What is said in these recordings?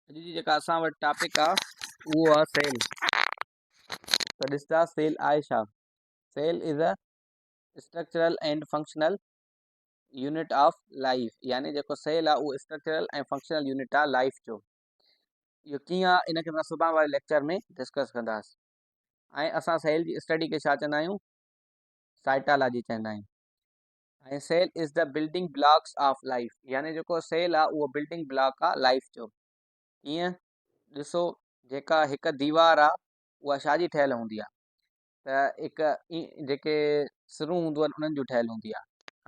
اڄ جي جيڪا اسان وٽ ٽاپڪ آ اهو آ سيل ته ڏسجا سيل آهي ڇا cell is a structural and functional unit of life يعني جيڪو سيل آ اهو اسٽرڪچرل ۽ فنڪشنل يونٽ آ لائف جو اهو ڪيئن آ ان کي اسان سڀان واري ليڪچر ۾ ڊسڪس ڪنداس ۽ اسان سيل جي اسٽڊي کي ڇا چوندا آهيون سائٽالاجي چوندا آهيون ۽ cell is the building blocks of life يعني جيڪو سيل آ اهو بلڊنگ بلاڪ آ لائيف جو ڪيئن ڏسو جيڪا هڪ ديوار آ اها شاهه جي ٺهيل هوندي آ ته هڪ جيڪي سرون هونديون آهن انهن جون ٺهيل هوندي آ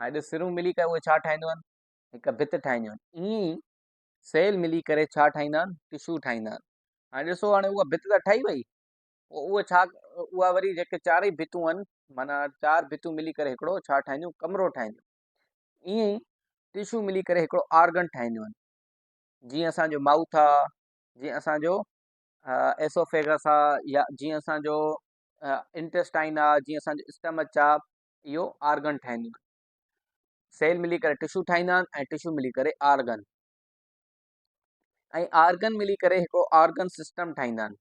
هاڻي سرون ملي ڪري اهي ڇا ٺاهينديون آهن هڪ ڀت ٺاهينديون آهن ائين ئي سيل ملي ڪري ڇا ٺاهيندا آهن ٽشو ٺاهيندا آهن هاڻي ڏسو هاڻي اها ڀت ته ٺهي وئي اهو ڇا اها وري جيڪي چارئي ڀتون آهن معنيٰ چار ڀتون ملي ڪري هڪڙو ڇا ٺاهينديون ڪمرو ٺاهينديون ائين ئي ٽشو ملي ڪري هڪڙو آرگن ٺاهينديون آهن جيئن اسانجو مائوٿ آهي جيئن اسانجو ايسوفيگس آهي يا جيئن اسانجو انٽيسٽائن آهي جيئن اسانجو اسٽمچ آهي اهو آرگن ٺاهينديون آهن سيل ملي ڪري ٽشو ٺاهيندا آهن ۽ ٽشو ملي ڪري آرگن ۽ آرگن ملي ڪري هڪڙو آرگن سسٽم ٺاهيندا آهن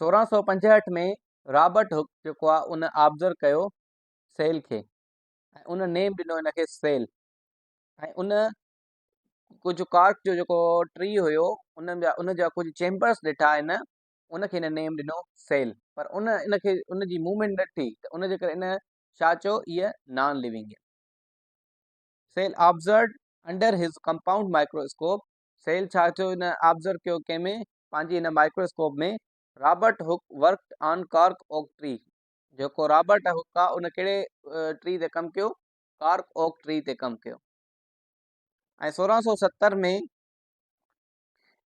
1665 ۾ رابرٽ هڪ جيڪو آهي ان آبزر ڪيو سيل کي ۽ ان نيم ڏنو ان کي سيل ۽ ان ڪجهه ڪارڪ جو جيڪو ٽري هيو ان جا ان جا ڪجهه چيمبرس ڏٺا ان ان کي ان نيم ڏنو سيل پر ان ان کي ان جي موومينٽ نه ٿي ته ان جي ڪري ان شاهه چيو هيء non living cell observed under his compound microscope cell ڇا ٿيو هن آبزرو ڪيو ڪنهن ۾ پنهنجي هن microscope ۾ Robert Hooke worked on cork oak tree جيڪو رابرٽ هڪ آ ان ڪهڙي ٽري تي ڪم ڪيو ڪارڪ اوڪ ٽري تي ڪم ڪيو ۽ سورهن سو ستر ۾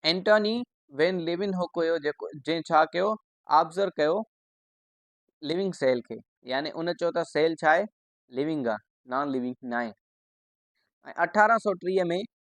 اينٽوني وين ليون هڪ هيو جيڪو جنهن ڇا ڪيو آبزر ڪيو لونگ سيل کي يعني ان چيو ته سيل ڇا آهي لونگ آ نان لونگ ناهي ۽ اٺارهن سو ٽيهه ۾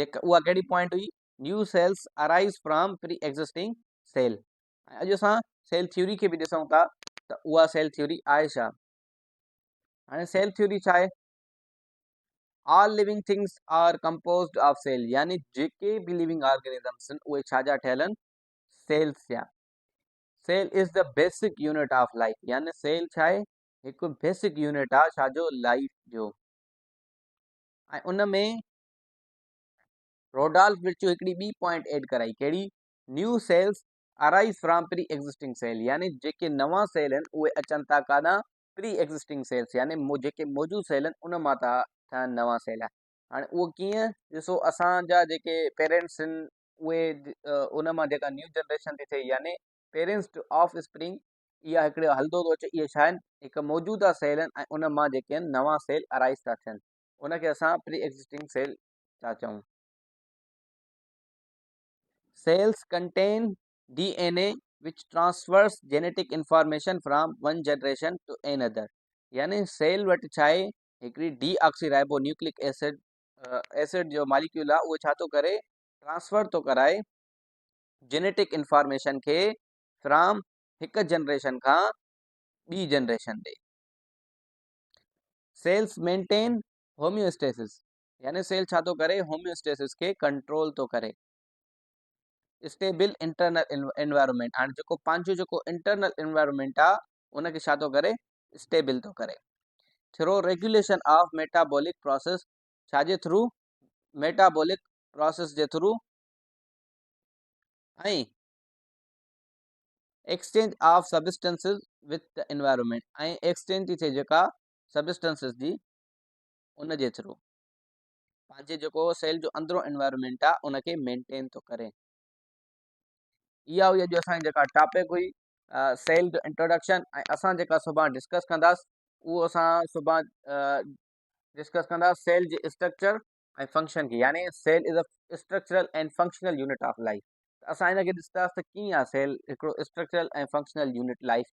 جيڪا اها ڪهڙي پوائنٽ هئي new cells arise from pre existing cell ۽ اڄ اسان سيل ٿيوري کي به ڏسون ٿا ته اها سيل ٿيوري آهي ڇا هاڻي سيل ٿيوري ڇا آهي all living things are composed of cell يعني جيڪي به ليونگ آرگنزمس آهن اهي ڇا جا ٺهيل آهن سيلس جا cell is the basic unit of life يعني سيل ڇا آهي هڪ بيسڪ يونٽ آهي ڇا جو لائف جو ۽ ان ۾ روڊالف مرچو هڪڙي ٻي پوائنٽ ايڊ ڪرائي ڪهڙي new cells arise from pre existing cell يعني جيڪي نوان سيل آهن اهي اچن ٿا ڪاڏان پري ايگزسٽنگ سيلز يعني جيڪي موجود سيل آهن ان مان ٿا ٺهن نوان سيل هاڻي اهو ڪيئن ڏسو اسان جا جيڪي پيرنٽس آهن اهي ان مان جيڪا نيو جنريشن ٿي ٿئي يعني پيرنٽس آف اسپرنگ اها هڪڙو هلندو ٿو اچي اهي ڇا آهن هڪ موجوده سيل آهن ۽ ان مان جيڪي آهن نوان سيل ارائيز ٿا ٿين ان کي اسان پري ايگزسٽنگ سيل ٿا چئون. Cells contain D N A which transfers genetic information from one generation to another يعني سيل وٽ ڇا آهي هڪڙي deoxyribonucleic acid acid جو ماليڪيول آهي اهو ڇا ٿو ڪري ٽرانسفر ٿو ڪرائي جينيٽڪ انفارميشن کي فرام هڪ جنريشن کان ٻي جنريشن ڏي سيلس مينٽين هوميوسٽيسس يعني سيل ڇا ٿو ڪري هوميوسٽيسس کي ڪنٽرول ٿو ڪري اسٽيبل انٽرنل انوائرمنٽ هاڻي جيڪو پنهنجو جيڪو انٽرنل انوائرمنٽ آ ان کي ڇا ٿو ڪري اسٽيبل ٿو ڪري through regulation of metabolic process ڇا جي ٿرو ميٽابولڪ پروسيس جي through ۽ Exchange of Substances with the Environment ۽ Exchange ٿي ٿئي جيڪا Substances جي ان جي ٿرو پنهنجي جيڪو سيل جو اندرون انوائرمنٽ آ ان کي مينٽين ٿو ڪري اها هئي اڄ اسان جيڪا ٽاپڪ هئي سيل جو انٽروڊڪشن ۽ اسان جيڪا صبح ڊسڪس ڪنداسين اهو اسان صبح ڊسڪس ڪنداسين سيل جي اسٽرڪچر ۽ فنڪشن کي يعني cell is a structural and functional unit of life ته اسان هن کي ڏسنداسين ته ڪيئن آهي سيل هڪڙو اسٽرڪچرل ۽ فنڪشنل يونٽ لائيف